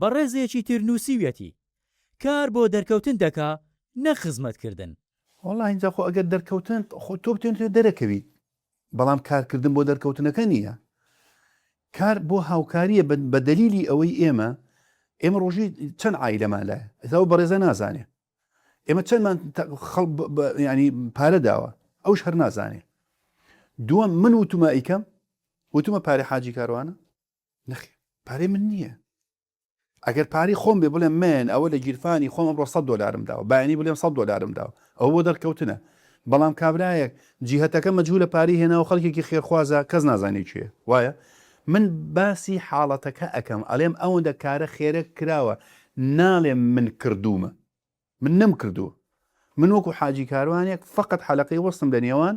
بەڕێزێکی تر نوسیویەتی، کار بۆ دەرکەوتن دەکا نەک خزمەت کردن. وەڵا ئینجا خۆ ئەگەر دەرکەوتن خۆ تۆ بتەوێت لەوێ دەرەکەویت بەڵام کارکردن بۆ دەرکەوتنەکە نیە کار بۆ هاوکاریە بە دەلیلی ئەوەی ئێمە ئێمە ڕۆژی چەند عایلەمان لایە ئێستا ئەو بەڕێزە نازانێ ئێمە چەندمان ینی پارە داوە ئەوش هەر نازانێ دووەم من وتومە ئیکەم وتومە پارەی حاجی کاروانە نەخێ پارەی من نییە ئەگەر پارەی خۆم بێ بڵێم من ئەوە لە گیرفانی خۆم ئەمڕۆ 100 دلارم داوە باینی بڵێم 100 دلارم داوە ئەو بۆ دەرکەوتنە بەڵام کابراایەک جیهتەکە مەجوو لە پاری هێناوە خەڵکێکی خێرخوازە کەس نازانێت چێ وایە من باسی حاڵەتەکە ئەەکەم ئەلێم ئەوەندە کارە خێرە کراوە ناڵێم من کردومە من نەم کردووە من وەکو حاجی کاروانێک فقط حەلقەی وەستم لە نێوان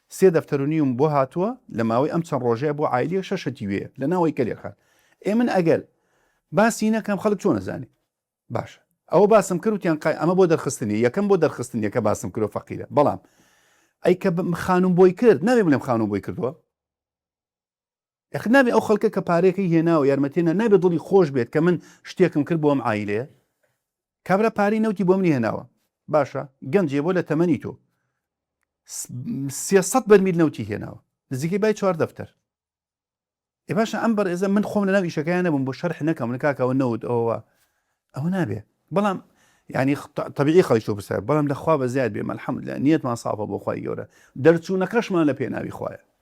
سێ دەفتەر و نیوم بۆ هاتووە لە ماوەی ئەم چەند ڕۆژەیا بۆ عایلیەک شەش شتی وێیە لە ناوەی کەلێر خان ئێ من ئەگەر باسی نەکەم خەلک چۆن ئەزانێ باشە ئەوە باسم کرد وتیان قای ئەمە بۆ دەرخستنی یەکەم بۆ دەرخستن یەکە باسم کرۆ فەقیرە بەڵام ئەی کە خانوم بۆی کرد نابێ بڵێم خانوم بۆی کردووە یاخود نابێ ئەو خەڵکە کە پارەکەی هێناوە یارمەتی هێنا نابێ دڵی خۆش بێت کە من شتێکم کرد بۆ ئەم عایلەیە کابرا پارەی نەوتی بۆ منی هێناوە باشە گەنجێ بۆ لە تەمەنی تۆ سێسەد بەرمیل نەوتی هێناوە نزیکەی بای چوار دەفتەر ئێ باشە ئەم بەڕێزە من خۆم لەناو ئیشەکەیان نەبووم بۆ شەرح نەکەم من کاکەوە نەوت ئەوە ئەوە نابێ بەڵام ینی طبیعی خەڵی تۆ بسە بەڵام لەخوا بە زیاد بێ مەلحەمد لە نیەتمان ساڵە بۆ خی گەورە دەرچوونەکەشمان لە پێناوی خوایە